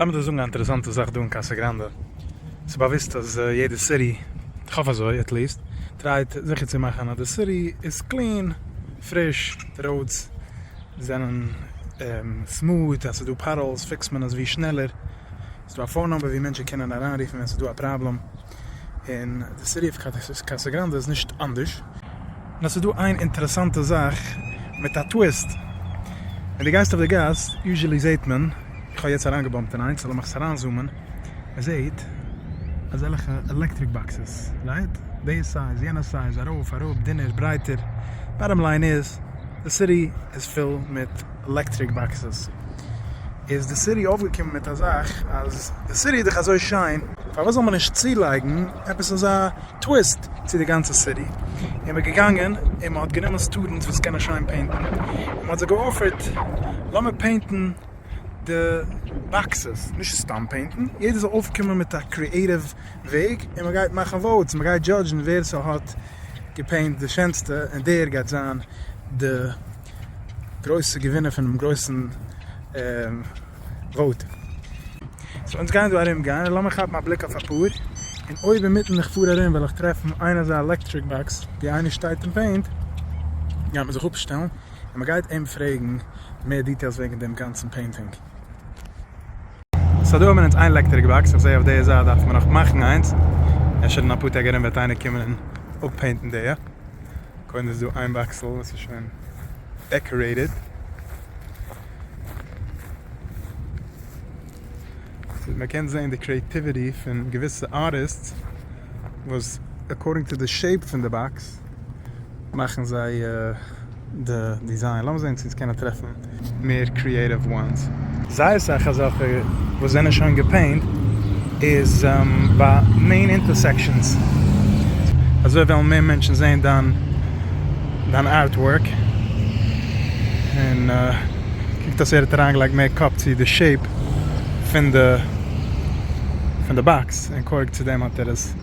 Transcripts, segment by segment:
לאמיר דיר זאגן א אינטערעסאנטע זאך דא אין קאסא גראנדע, ס'איז באוויסט אז יעדע סיטי, איך האף אזוי עט ליעסט, טרייט זיכער צו מאכן אז די סיטי איז קלין, פריש, די ראודס זענען סמוט, אז ס'איז דא פאטהאלס פיקסט מען עס ווי שנעלער, ס'איז דא א פאון נומבער ווי מענטשן קענען אריינרופן ווען ס'איז דא א פראבלעם. און די סיטי אוו קאסאגראנדע איז נישט אנדערש. נאר ס'איז דא איין אינטערעסאנטע זאך מיט א טוויסט, ווען דו גייסט אויף די גאס יוזשעלי זעהט מען, איך האב יעצט אריינגעבאמפט אין איינס לאמיך עס אריינזומען, מען זעהט אזעלכע עלעקטריק באקסעס, רייט? די סייז יענע סייז, ארויף אראפ, דינער ברייטער, באטאם ליין איז די סיטי איז פול מיט. עלעקטריק באקסעס איז די סיטי אויפגעקומען מיט א זאך אז די סיטי איז דאך אזוי שיין פארוואס זאל מען נישט צולייגן עפעס אזא טוויסט צו די גאנצע סיטי און מען געגאנגען און מען האט גענומען סטודענטס וואס קענען שיין פעינטן און מען האט זיי געאפערט לאמיר פעינטן די באקסעס נישט סתם פעינטן יעדער זאל אויפקומען מיט א קריעטיוו וועג און מען גייט מאכן וואוטס מען גייט דזשאדזשן ווער סהאט געפעינט די שענסטע און דער גייט זיין די גרויסע געווינער פונעם גרויסן וואוט. סאו אונז גייען דא ארום גיין און לאמיר כאפן א בליק אויף אפאר, און אויב אינמיטן איך פאר ארום וועל איך טרעפן איין אזא עלעקטריק באקס ווי איינער שטייט און פעינט גייט מען זיך אפשטעלן און מען גייט אים פרעגן מער דיטעילס וועגן דעם גאנצן פעינטינג. סא דא האבן מיר אונז איין לעקטעריק באקס, איך זעה אויף דעיע זייט דארף מען נאך מאכן איינס, אפשר אין אפאר טעג ארום וועט איינער קומען און אפפעינטן דעיע, קודם איז דא איין באקסל וואס איז שוין דעקארעיטעד, סאו מען קען זעהן די קריעטיוויטי פון געוויסע ארטיסטס וואס עקארדינג טו די שעיפ פון די באקס. מאכן זיי די דיזיין, לאמיר זעהן צו אונז קענען טרעפן מער קריעטיוו וואנס. זייער סאך אזעלכע וואס זענען שוין געפעינט איז ביי מעין אינטערסעקשאנס, אזוי וועלן מער מענטשן זעהן דיין ארטווארק, און קוקט אויס ער האט אריינגעלייגט מער קאפ צו די שעיפ פון די באקס, און קוירג צו דעם האט ער עס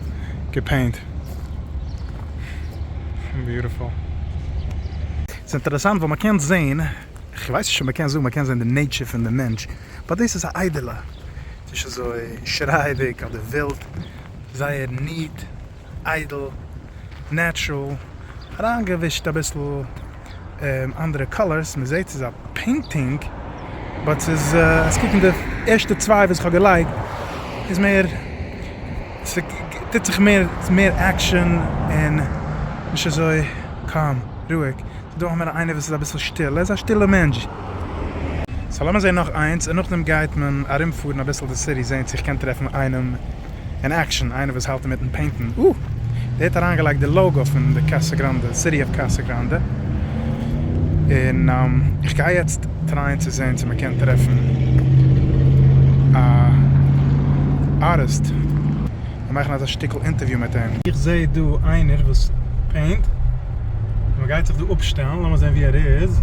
געפעינט. ס'איז אינטערעסאנט ווייל מ'קען זעהן, כ'ווייס נישט אויב מ'קען זאגן מ'קען זעהן די נעיטשער פון די מענטש, באט דאס איז א איידעלע, ס'איז נישט אזוי שרייעדיג אדער ווילד, זייער ניעט, איידל, נעטשרול, אריינגעווישט אביסל. אנדערע קאלערס, מען זעט ס'איז א פעינטינג, באט ס'איז אז קוקן די ערשטע צוויי וואס כ'האב געלייגט איז מער ס'טוט זיך מער ס'איז מער עקשאן און נישט אזוי קאם רואיג, ס'איז דא אמאל איינער וואס איז אביסל שטיל, ער איז א שטילע מענטש. סא לאמיר זעהן נאך איינס און נאכדעם גייט מען ארומפארן אביסל די סיטי זעהן צו איך קען טרעפן איינעם. אין עקשאן, איינער וואס האלט אינמיטן פעינטן, אה! דער האט אריינגעלייגט די לאוגא פון די קאסא גראנדע, סיטי אוו קאסא גראנדע, און איך גיי יעצט טרייען צו זעהן צו מ'קען טרעפן א ארטיסט און מאכן אזא שטיקל אינטערוויו מיט אים. איך זעה דא איינער וואס פעינט, און מ'גייט זיך דא אפשטעלן, לאמיר זעהן ווי ער איז.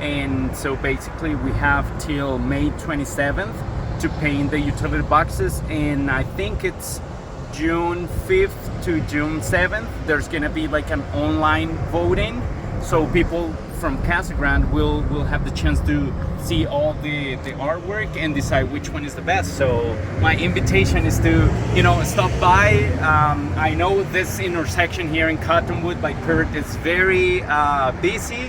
און סאו בעסיקלי ווי העוו טיל מעי טווענטי סעווען טו פעינט די יוטיליטי באקסעס און איי טינק איטס דזשון פיפט טו דזשון סעווען דער איז גאנא בי לייק אן אנליין וואוטינג סאו פיפל פראם קעסל גראונד וויל העוו די טשענס טו סי אלל די ארטווארק און דיסייד וויטש וואן איז די בעסט סאו מיי אינוויטעישאן איז טו יו נאו סטאפ ביי איי נאו דיס אינטערסעקשאן העיר אין קאטאנוואד ביי פירט איז ווערי ביזי.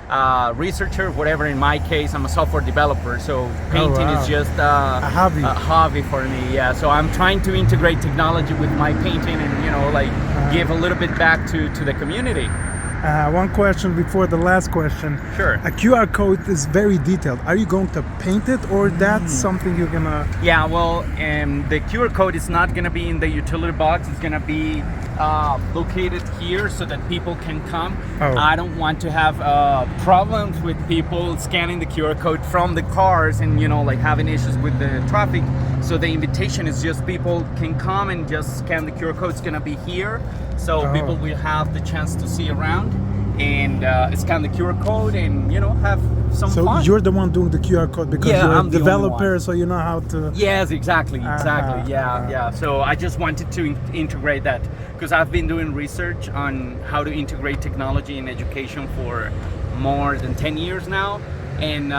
א ריסערטשער וואטעווער אין מיי קעיס איים א סאפטוועיר דיוועלאפער סאו פעינטינג איז זשאסט א האבי פאר מי יא סאו איים טרייענג טו אינטעגרעיט טעקנאלעדזשי וויט מיי פעינטינג און יו נאו לייק גיוו א ליטעל ביט בעק טו טו די קאמיוניטי. וואן קוועסטשען ביפאר די לאסט קוועסטשען, א קיו אר קאוד איז ווערי דיטעילד, אר יו גאוינג טו פעינט איט אר דעטס סאמטינג יור גאנא? יא וועל די קיו אר קאוד איז נאט גאנא בי אין די יוטילעטי באקס איטס גאנא בי לאקעיטעד היער סאו דעט פיפעל קען קאם אויף. איי דאנט וואנט טו העוו פראבלעמס וויט פיפל סקענינג די QR קאוד פראם די קארס און יו נאו לייק העווינג אישוס וויט די טרעפיק סאו די אינוויטעישאן איז דזשאסט פיפל קען קאם און דזשאסט סקען די QR קאוד סגאנא בי העיר סאו פיפל וויל העוו די טשענס טו סי אראונד און סקען די QR קאוד און יו נאו העוו סאם פאן. סאו יור די וואן דואינג די QR קאוד ביקאזש יור א דעוועלאפער סאו יו נאו האו טו. יעס עקזעקטלי עקזעקטלי יא יא סאו איי דזשאסט וואנטעד טו אינטעגרעיט דעט. קאוז אייוו בין דואינג ריסערטש אן האו טו אינטעגרעיט טעקנאלעדזשי אין עדיוקעישאן פאר מאר דען טען יערס נאו, און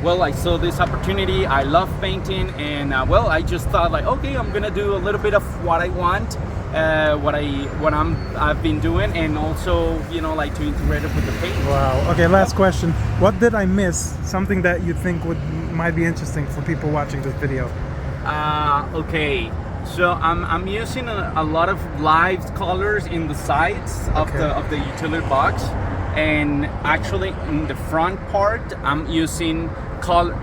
וועל איי סא דיס אפארטוניטי, איי לאוו פעינטינג, און וועל איי דזשאסט טאט לייק אקעי איים גאנא דא א ליטעל ביט אוו וואט איי וואנט, וואט איי וואט אייוו בין דואינג, און אלסא יו נאו לייק טו אינטעגרעיט איט וויט די פעינט. Wow, אקעי לאסט קוועסטשען, וואט דיד איי מיס, סאמטינג דעט יו טינק וואלד מייט בי אינטערעסטינג פאר פיפעל וואטשינג דיס ווידיאו? אה אקעי. סאו איים יוסינג א לאט אוו לייוו קאלערס אין די סיידס אויף די יוטילער באקס און עקטשעלי אין די פראנט פארט איים יוסינג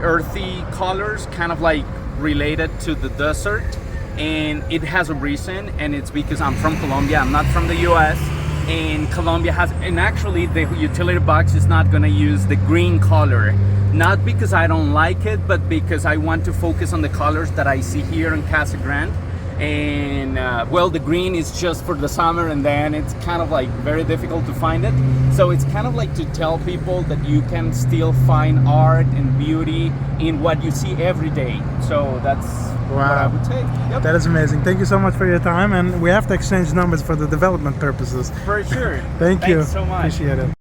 ערטי קאלערס קיינד אוו לייק רילעיטעד טו די דעסערט און איט העז א ריזען און איטס ביקאוז איים פראם קאלאמביע איים נאט פראם די יו עס און קאלאמביע העז און עקטשעלי די יוטילער באקס איז נאט גאנע יוז די גרין קאלער נאט ביקאוז איי דאנט לייק איט באט ביקאוז איי וואנט טו פאוקעס אן די קאלער דעט איי סי היער אין קאסא גרענד און וועל די גרין איז דזשאסט פאר די סאמער און דען איטס קיינד אוו לייק ווערי דיפיקאלט טו פיינד איט סאו איטס קיינד אוו לייק טו טעל פיפעל דעט יו קען סטיל פיינד ארט און ביוטי אין וואט יו סי עווערי דעי סאו דעטס וואט איי וואלד סעי יעפ. דעט איז עמעזינג טענק יו סאו מאטש פאר יור טיים און ווי האוו טו עקסטשעינדזש נאמבערס פאר די דעוועלאפמענט פורפעסעס. פאר שור טענק יו. טענקס סאו מאטש.